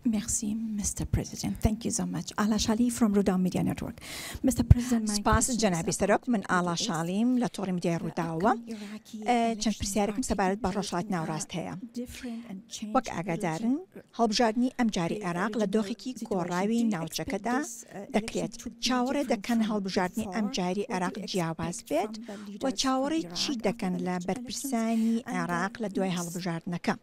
Merci, Mr. President. Thank you so much. Ala Shali from Rudaw Media Network. Mr. President, سپاس جنابی سەرۆک من ئاڵا شاڵیم لە تۆڕی میدیای ڕووداوە چەند پرسیارێکم سەبارەت بە ڕۆژڵات ناوڕاست هەیە وەک ئاگادارن هەڵبژاردننی ئەم جاری عێراق لە دۆخێکی گۆڕاوی ناوچەکەدا دەکرێت چاوەڕێ دەکەن هەڵبژاردننی ئەم جاری عێراق جیاواز بێت و چاوەڕێ چی دەکەن لە بەرپرسانی عێراق لە دوای هەڵبژاردنەکە.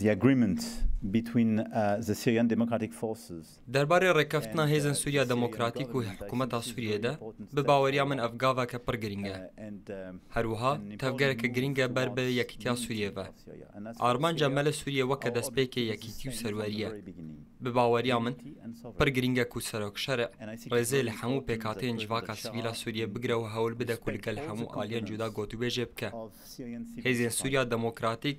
the agreement between the Syrian Democratic Forces. دەربارەی ڕێککەفتنا هێزن سوریا دەمۆکراتیک و حکومەتا سوریە دە، بە باوەریا من ئەڤ گاڤە کە پڕ گرینگە. هەروەها تەڤگەرە کە گرینگە بەر بە یەکیتیا سوریە ڤە. ئارمانجە مە لە سوریە وە کە دەسپێکێ یەکیتی و سەروەریە. بە باوەریا من، پڕ گرینگە کو سەرۆک شەرع ڕێزێ لە هەموو پێکهاتەێن جڤاکا سڤیلا سوریە بگرە و هەول بدە کو لگەل هەموو ئالیەن جودا گۆتوبێژێ بکە. هێزێن سوریا دەمۆکراتیک،